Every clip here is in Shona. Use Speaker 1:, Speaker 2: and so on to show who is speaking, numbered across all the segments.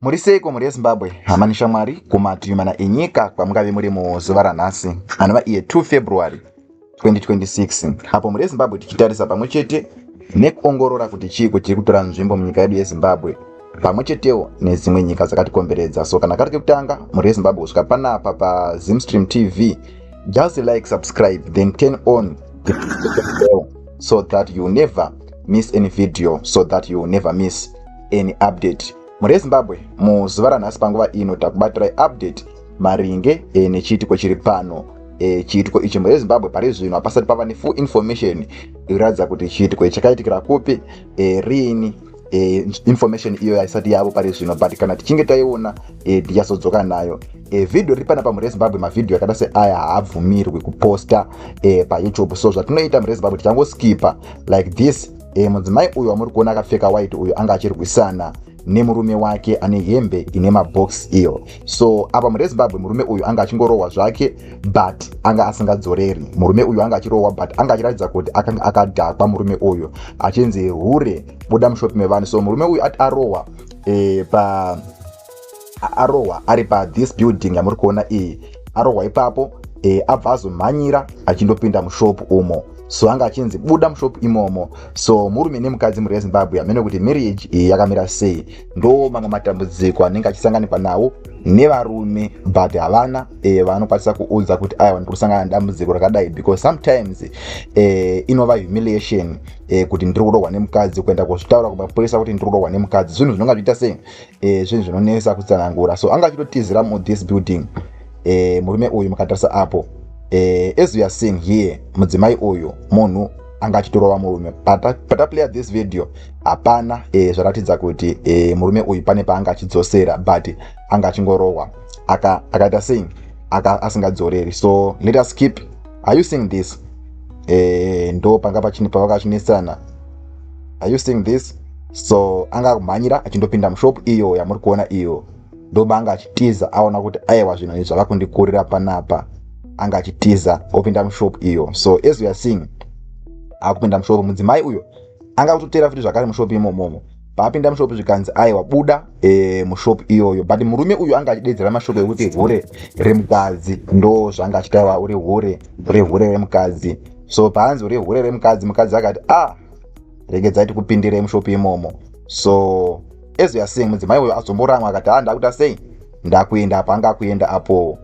Speaker 1: Muri seiko mhuri yeZimbabwe, hama neshamwari kumativi mana enyika kwamungave muri muzuva ranhasi anova iye 2 February 2026 apo mhuri yeZimbabwe tichitarisa pamwe chete nekuongorora kuti chiiko chiri kutora nzvimbo munyika yedu yeZimbabwe pamwe chetewo nedzimwe nyika dzakatikomberedza so kana kari kekutanga mhuri yeZimbabwe kusvika panapa paZimstream TV just like subscribe then turn on the so that you never miss any video so that you will never miss any update mhuri yezimbabwe muzuva ranhasi panguva ino takubatirai update maringe e, nechiitiko chiri pano e, chiitiko ichi mhuri yezimbabwe pari zvino hapasati pava nefull information ikuratidza kuti chiitiko ichi chakaitikira kupi e, riini e, information iyo haisati yavo pari zvino but kana tichinge taiona e, tichazodzoka nayo e, vhidhiyo riri panapa mhuri yezimbabwe mavhidhiyo akada seaya haabvumirwi kuposta e, payoutube so zvatinoita mhuri yezimbabwe tichangoskipa like this e, mudzimai uyu wamuri kuona akapfeka white uyu anga achirwisana nemurume wake ane hembe ine mabox iyo so apa mune zimbabwe murume uyu anga achingorohwa zvake but anga asingadzoreri murume uyu anga achirohwa but anga achiratidza kuti akanga akadhakwa murume uyu achinzi hure buda mushopi mevanhu so murume uyu ati arohwa e, pa arohwa ari pa this building yamuri kuona iyi arohwa ipapo e, abva azomhanyira achindopinda mushopu umo so anga achinzi buda mushopu imomo so murume nemukadzi mhuri yezimbabwe hamene kuti marriage iyi yakamira sei ndo mamwe matambudziko anenge achisanganikwa nawo nevarume but havana e, vanokwanisa kuudza kuti aya vanoda kusangana nedambudziko rakadai because sometimes e, inova humiliation e, kuti ndiri kurohwa nemukadzi kuenda kuzvitaura kumapurisa kuti ndiri kurohwa nemukadzi zvinhu zvinonga zviita sei eh, zvinhu zvinonesa kutsanangura so anga achitotizira mudhis building eh, murume uyu mukatarisa apo eh, as weare seeing here mudzimai uyu munhu anga achitorova murume pataplayer pata this video hapana eh, zvaratidza kuti eh, murume uyu pane paanga achidzosera but anga achingorohwa akaita aka seing aka asingadzoreri so let us keep are you seeing this eh, ndo panga pavakachinetsana are you seeing this so anga akumhanyira achindopinda mushop iyo yamuri kuona iyo ndoba anga achitiza aona kuti aiwa zvinhu izvi zvava kundikurira panapa anga achitiza opinda mushop iyo so as we are seeing akupinda mushop mudzimai uyo anga akutoteera futi zvakare mushop imomomo paapinda mushop zvikanzi aiwa buda e, mushop iyoyo but murume uyu anga achidedzera mashoko ekuti hure remukadzi ndo zvanga achitaiwa uri hure hure hure remukadzi so paanzi uri hure remukadzi mukadzi akati a ah, regedzai tikupindire mushopi imomo so as youare seeing mudzimai uyo azomboramwa akati a ah, ndakuita sei ndakuenda apo anga akuenda apo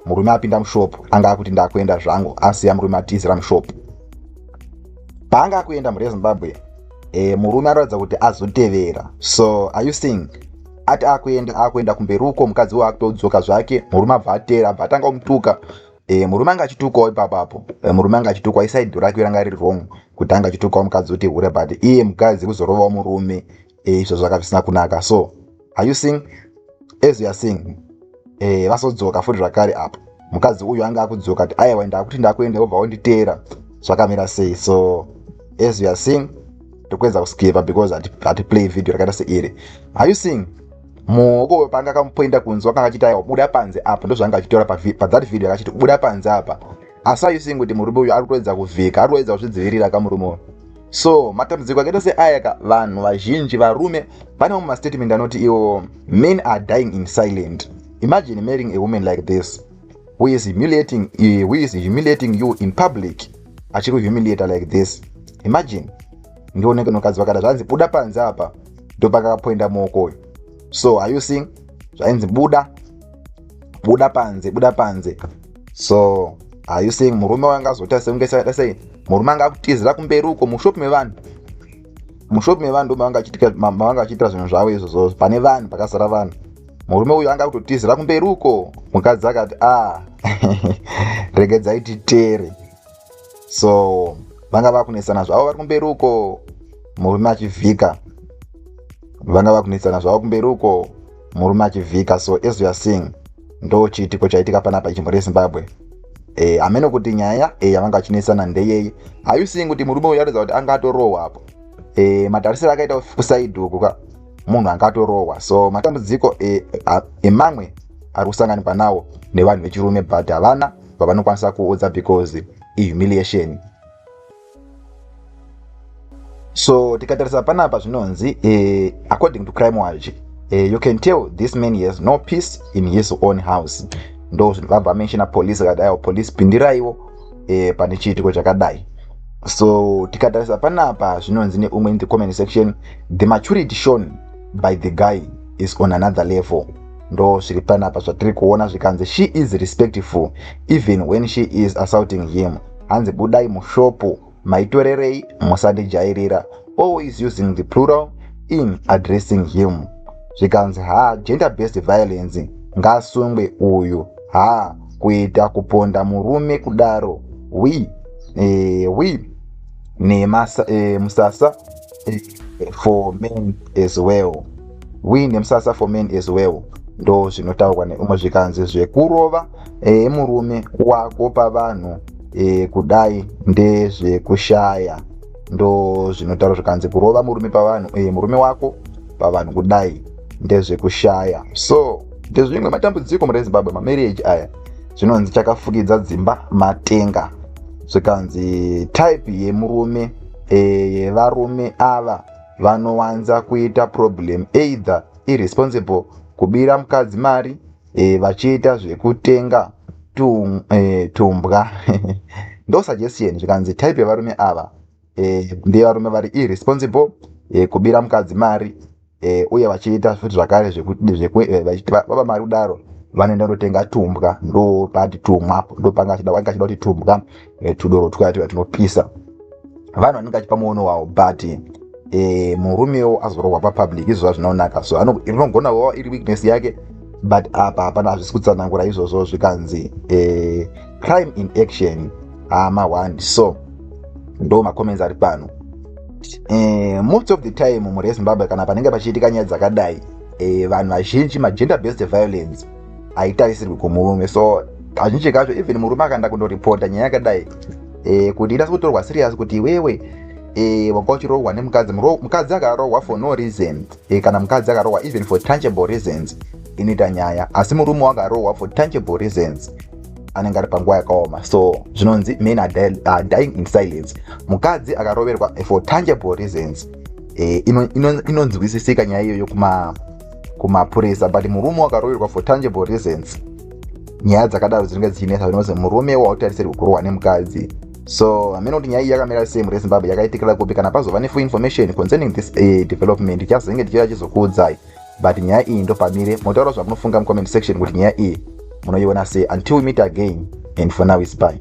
Speaker 1: murume apinda mushop anga akuti ndakuenda zvangu asiya murume atizira mushop paanga akuenda mhuri yezimbabwe e, murume anoratidza kuti azotevera so are you seeing ati akuenda akuenda kumberi uko mukadzi uyo akutodzoka zvake murume abva ateera abva atanga kumutuka e, murume anga achitukwawo ipapa apo e, murume anga achitukwa isaido rake ranga riri wrong kuti anga achitukwawo mukadzi uti hure but iye mukadzi kuzorovawo murume e, izvo zvaka zvisina kunaka so are you seeing as you are seeing e, vasodzoka futi zvakare apo mukadzi uyu anga akudzoka ti aiwa ndakuti ndakuenda wobva wonditeera zvakamira sei so as you are seeing tokuedza kuskiva because ati play video rakaita seiri are you seeing muhoko panga akamupoinda kunzi wakanga achiti aiwa buda panze apa ndozvaanga achitora pathat video akachiti buda panze apa asi ayusing kuti murume uyu ari kutoedza kuvhika ari kutoedza kuzvidzivirira ka murume uyu so matambudziko akaita seaya ka vanhu vazhinji varume vane mamwe mastatement anoti iwo men are dying in silent imagine marrying a woman like this who is humiliating, uh, who is humiliating you in public achiri kuhumiliata like this imagine ndioneke nokadzi vakada zvanzi buda panze apa ndopakakapoinda muoko uyu so are you seeing zvainzi buda buda panze buda panze so are you seeing murume wanga azoita sekunge sakaita sei murume anga akutizira kumberi uko mushop mevanhu mushop mevanhu ndomavanga vachiitira zvinhu zvavo izvozvo pane vanhu pakazara vanhu murume uyu anga akutotizira kumberi uko mukadzi akati a ah, regedzai titere so vanga vakunetsana zvavo vari kumberi uko murume achivhika vanga vakunetsana zvavo kumberi uko murume achivhika so as youare seeing ndo chiitiko chaitika panapa ichimbo rezimbabwe e, amene kuti nyaya e, yavanga vachinetsana ndeyei ayu seeing kuti murume uyu aratidza kuti anga atorohwa apo e, matarisiro akaita kusaidi uku ka munhu anga atorohwa so matambudziko emamwe e, e, ari kusanganikwa nawo nevanhu vechirume but havana pavanokwanisa kuudza because ihumiliation so tikatarisa panapa zvinonzi eh, according to crime watch eh, you can tell this man has no peace in his own house ndo zvinhu vabva menshina police akadaiwo police pindiraiwo eh, pane chiitiko chakadai so tikatarisa panapa zvinonzi neumwe in the comment section the maturity shown by the guy is on another level ndo zviri panapa zvatiri kuona zvikanzi she is respectful even when she is assaulting him hanzi budai mushopu maitorerei musandijairira always using the plural in addressing him zvikanzi ha gender based violence ngaasungwe uyu ha kuita kuponda murume kudaro wi e, wi nemusasa e, eh, for men as well we nemsasa for men as well ndo zvinotaurwa neumwe zvikanzi zvekurova e, murume wako pavanhu e, kudai ndezvekushaya ndo zvinotaurwa zvikanzi kurova murume pavanhu e, murume wako pavanhu kudai ndezvekushaya so ndezvimwe matambudziko mune zimbabwe mamarriage aya zvinonzi chakafukidza dzimba matenga zvikanzi type yemurume eye varume ava vanowanza kuita problem either irresponsible kubira mukadzi mari e, vachiita zvekutenga tum, e, tumbwa ndo suggestion zvikanzi type yevarume ava e, ndevarume vari irresponsible e, kubira mukadzi mari e, uye vachiita futi zvakare eh, vachiti baba mari kudaro vanoenda kunotenga tumbwa ndo pati tumwa ndo panga achida wanga achida kuti tumbwa e, tudoro twuya tuya tunopisa vanhu vanenge achipa muono wavo but e, murumewo azorohwa papublic izvo zvazvinaonaka so rinogona kuva iri weakness yake but apa hapana hazvisi kutsanangura izvozvo zvikanzi e, crime in action hama ah, one so ndo macomments ari pano eh, most of the time mhuri yezimbabwe kana panenge pachiitika nyaya dzakadai eh, vanhu vazhinji magender based violence haitarisirwi kumurume so kazhinji kacho even murume akaenda kundoripota nyaya yakadai eh, kuti inasi kutorwa serious kuti iwewe eh, wanga uchirohwa nemukadzi mukadzi akarohwa for no reason eh, kana mukadzi akarohwa even for tangible reasons inoita nyaya asi murume wakarohwa for tangible reasons anenge ari panguva yakaoma so zvinonzi men are uh, dying in silence mukadzi akaroverwa for tangible reasons eh, inonzwisisika ino, ino nyaya iyoyo kuma kumapurisa but murume wakaroverwa for tangible reasons nyaya dzakadaro dzinenge dzichinetsa zvinozi murume wautarisirwi kurohwa nemukadzi so hameno kuti nyaya iyi yakamira sei mure zimbabwe yakaitikira kupi kana pazova nefull information concerning this uh, development chazenge tichiuya chizokuudzai but nyaya iyi ndopamire motaura zvamunofunga mucomment section kuti nyaya iyi munoiona sei until we meet again and for now is bye